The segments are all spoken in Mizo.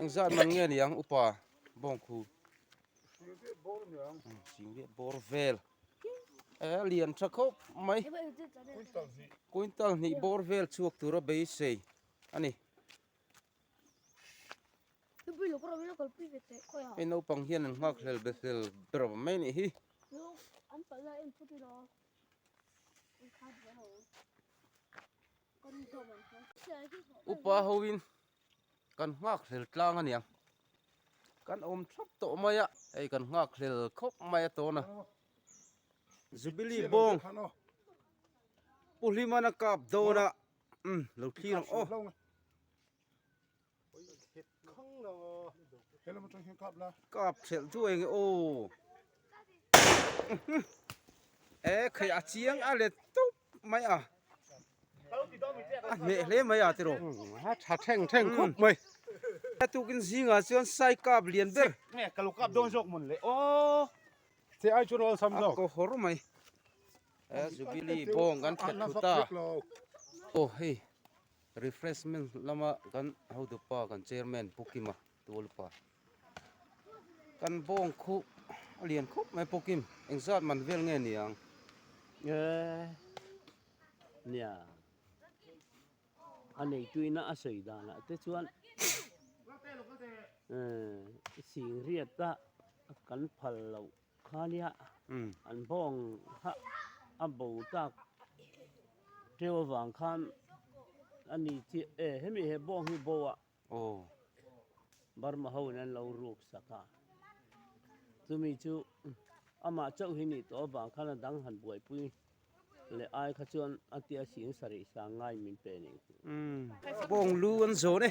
Eng zat man nge niang upa bawngkhu Singlet bawr vel e lian tha khawp mai Kuintal hnih bawr vel chhuak tura beisei a ni Hei naupang hian an nghak hlel be hlel ber mai anih hi upa hoin kan nghakhlel tlang a nia kan awm thlap tawh mai a hei kan nghakhlel khawp mai a tawn a zubili bawng pu hlimana kap dawn a lo thlir ang aw. kap ṭhelh chu eng e aw e khei a chiang a let tawp mai a a hmeh hle mai a te rawh tha ṭheng ṭheng khawp mai a tuk in zing ah chuan sai kap lian ber a kohawr mai a zubili bawng kan thlet thut a aw hei. Refreshment lama kan hotupa kan chairman Pu Kim a tu alupa kan bawng khu a lian khawp mai Pu Kim eng zat man vel nge niang e nia a neituina a sawi danah te chuan e sing riat a kan phal loh Khalia an bawng hah a bo tak teu avang khan a ni chiah e, hemi he bawng hi bo a Burma ho in an lo ruk sak a, chumi chu amah chauh hi nih tawh avang khan a dang han buaipui leh ai kha chuan a ti a sin sarih sang ngai min pe ning hi. Bawng lu an zawn e.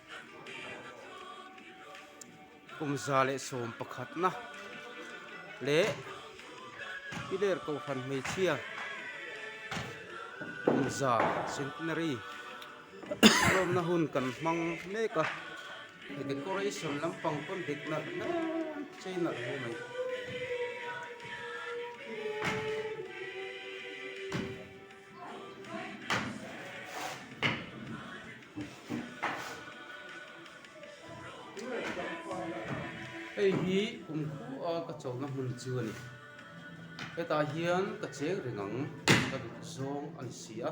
Kumza leh sawm pakhatna leh Piler Kohhran hmeichhia Kumza Centenary lawmna hun kan hmang mek a, hei decoration lampang pawn dik nalh hle chei nalh hle mai. Hei hi kum khua ka chawhna hmun chu a ni hetah hian ka cheng reng ang ka duh zawng a ni si a.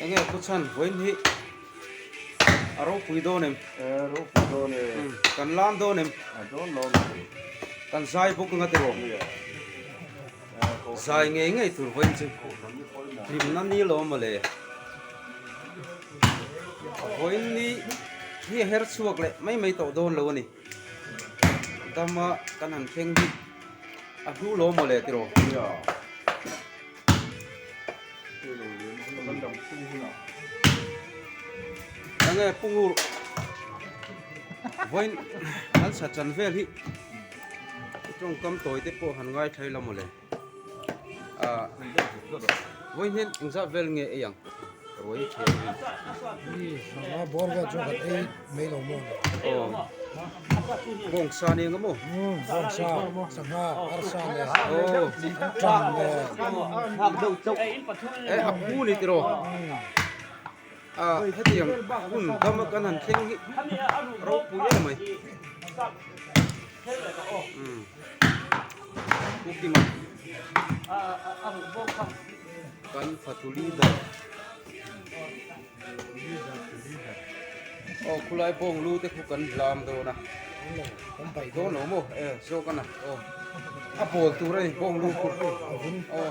Eng nge pu chhan vawi ni a ropui dawn em eh ropui dawn e kan lam dawn em a dawn lo a ni thei kan zai bawk ang a tiro. Zai ngei ngei tur vawiin chu hlimna ni lo mawle. A vawiin ni hi a her chhuak leh mai mai tawh dawn lo a ni. Dama kan han thleng hi a hlu lo mawle tiraw. Eng nge Pungrul vawiin kan satsan vel hi. Chutawng kam tawi te pawh han ngaithlai la mawle. Ahh vawi hian engzah vel nge ei ang? Ruai thin a ni. Hi sangha bawr vel chu kan ei mai lo maw ni? Aw. Bawng sa nen ka maw? Umm bawng sa, sangha, arsa nen. Aw. Ṭang nen. Hak deuh chauh. Eh a pu ni tiraw? Umm. Ah hetiang hun dama kan han thleng hi ropui em mai umm pukima kan fatuli ber aw khulai bawng lu te khu kan zam dawn a theih dawn awm aw eh zawk a na aw a pawl tur a ni bawng lu khu aw.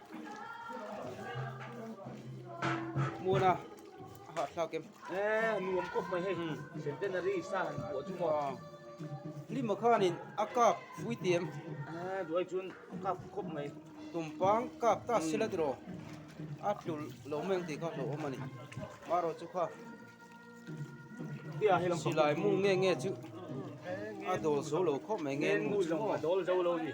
muna ha thla kem e nuam kawp mai hei centenary sa han hmuh chu maw hlim ma khan in a kap puithiam a duai chuan a kap khawp mai tum pang kap ta sila ti rawh a tlul lo mai ang tih kha hlauh awm a ni marawh chu kha silai mung nge nge chu a dawl zo lo khawp mai nge nge nge chu a dawl zo lo ni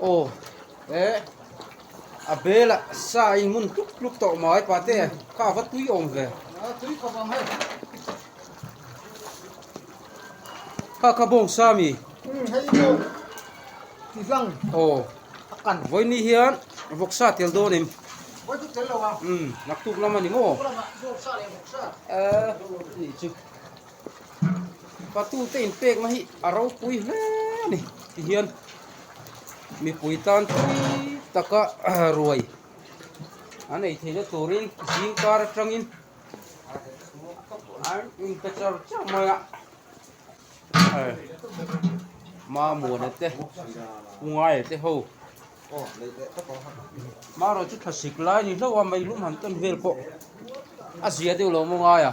Aw eh a bela sa in mun tluk tluk tawh mai pate kha ava tui awm ve kha kha bawng sa mi aw vawini hian vawk sa tel dawn em naktuk lam a ni maw eh a nih chu. Patute in pek na hi a ropui hle a ni ti hian mipui tan pui taka ruai an ei theihna turin zingkar atangin an inpe char char mai a mamuana te ungaia te ho maro chu thlasik lai ni hlauh a meihlum han ton vel pawh a zia deuh lo maw ngai a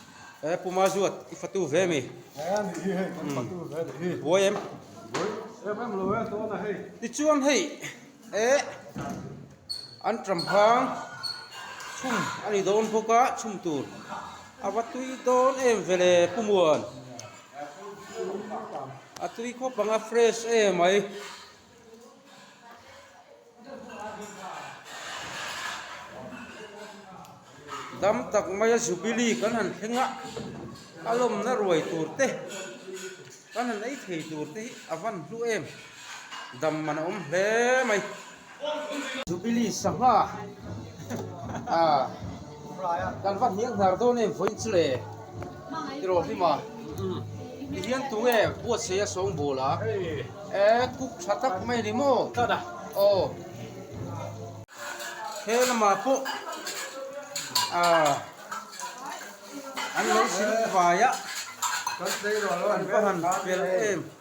He puma zuat i fatu ve mi. He mi hi hei kan fatu ve ni hi. Buai em. Buai em em lo e tawn a hei. Tichuan hei e an ṭam hang chhum a ni dawn bawk a chhum tur a va tui dawn em vele pumuan a tui khawp anga fresh emai. Dam tak maia Jubilee kan han thleng a, a lawmna ruai tur te, kan han ei thei tur te hi a van hlu em, dam man a awm hle mai. Jubilee sangha ah. Kan va hniang hnar dawn em vawiin chu le i rawh hlim a, tihian tu nge Buatsaih a sawng bul a, e kuk tha tak mai ni maw? Aw, he lamah pawh an lo sil vai a, kan va han fel em.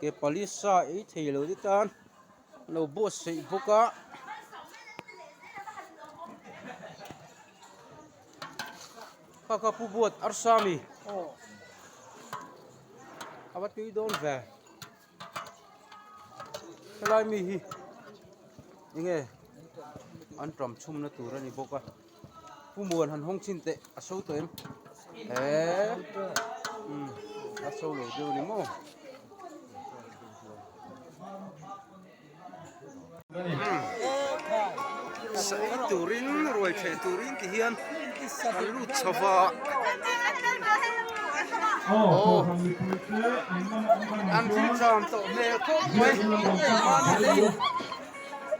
Ke pali sa ei thei lo te tan a lo buatsaih bawk a kha kha pu buat arsa a mi aw a va tui dawn ve helai mi hi eng nge an ṭam chhumna tur a ni bawk a. Pu Muan han hawng chin teh a show tawh em? Eee umm a show lo deuh a ni maw? Sawi turin ruai thleh turin tih hian kan lut chhova aw an thil cham tawh hmel khawp mai.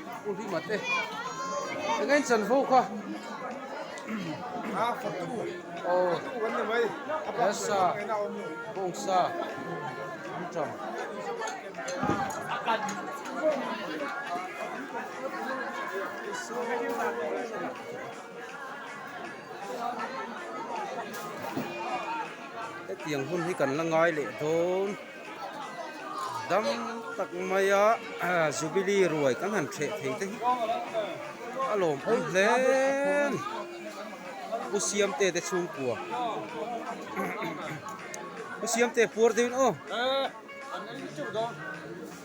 School hi mat e. Eng a in chan fo kha. Oh. Yes sir. Bung sir. Am cham. Hetiang hun hi kan la ngai leh dawn. Dang tak mai a Jubilee ruai kan han ṭheh thei te hi a lawm awm hle a ni. U Siamte te chhungkua U Siamte puar deuhin aw.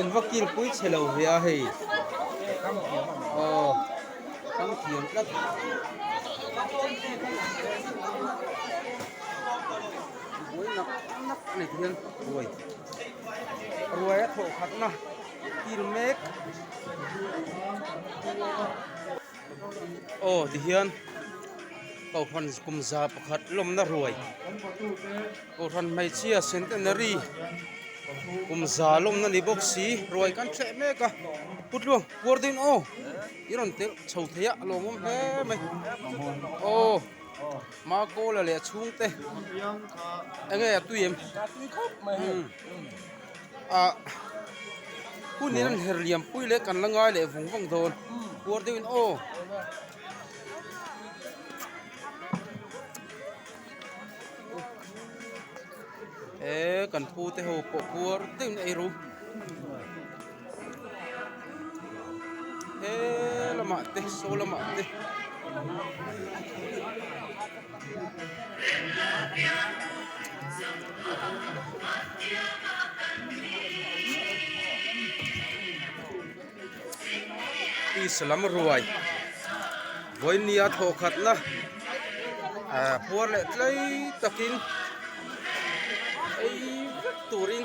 Invakil pui che lo hliah a hei. Aw. Kan thiam tlat. Buai nak nak a nek hian ruai. Ruai a thawh khatna kil mek. Aw tihian Kohhran kum za pakhat lawmna ruai Kohhran hmeichhia centenary kum za lawmna ni bawk si ruai kan thleh mek a Putluang puar dawn aw i rawn telh chho thei a a lawmawm hle mai aw ma caller leh a chhungte enge a tui em umm. Ah hun in an her lianpui leh kan la ngai leh vung vang dawn kuar deuh in aw he kan pu te ho pawh kuar deuh in ei ro. he lamah te saw lamah te peace lam ruai vawinlia thawh khatna ah puar leh tlai takin ei vek turin.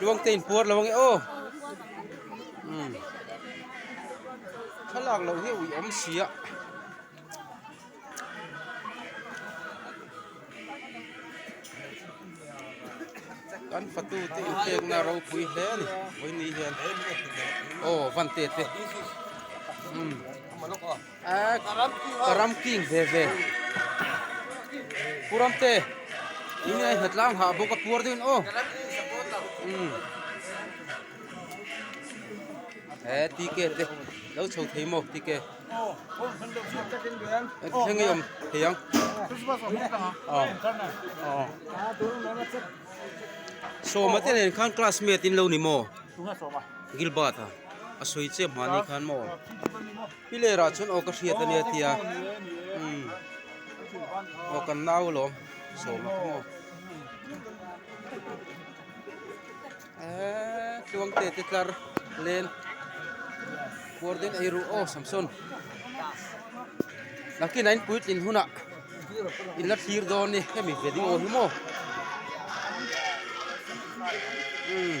Luang te in puar lo ang e aw hmm. Thalak lo hi ui om si a Kan fatu te in tek na ro pui hle ni Oi ni hian Oh vante te Hmm Ka ram king ve ve. Pu Ramte in a hna tlang hah bawk a puar deuhin aw umm he TK te lo chho thei maw TK thleng a awm thei ang aw aw Sawma te nen khan classmate in lo ni maw Gilbert a a sawi che hmani khan maw. Pi lerah chuan aw ka hriat a nia tia umm aw kan la au lawm sawma ka maw eeee tluang te te tlar len kuar ten ei ruh aw samson nakina in puitlin hunah in la thlir dawn ni hemi veli aw hi maw umm.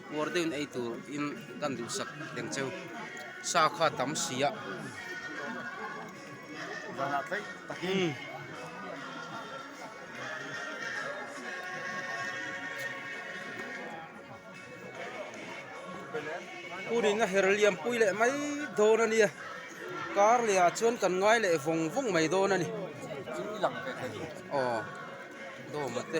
Kuar deuhin ei tur in kan duhsak teng cheu. Sa kha tam si a. Zana tlaih takin. Punin a her liampui leh mai dawn a nia. Kar leh ah chuan kan ngai leh vawng vawng mai dawn a ni. Chu i lang ve thei. Aw dawma te.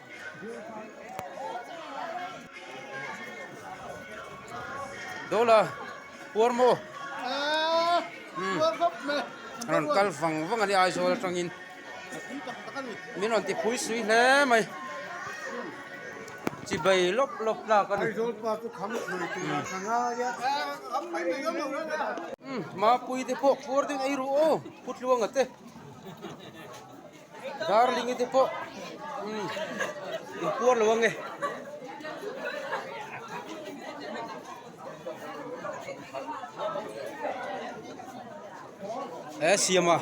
Dawla puar maw a rawn kal vang vang a ni a Aizawl atangin min rawn ti phui sui hle mai chi bai lawp lawp lak a ni Aizawl pa chu kham thlui tur a hla ngai a Mapui te pawh puar ding eiruh aw khutlua ngate. Darling hi te pawh inpuar lo ange. E siam a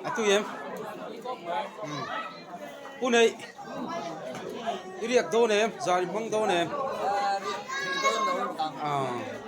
a tu em hmm. pu nei i riak dawn em zan i hmang dawn em ah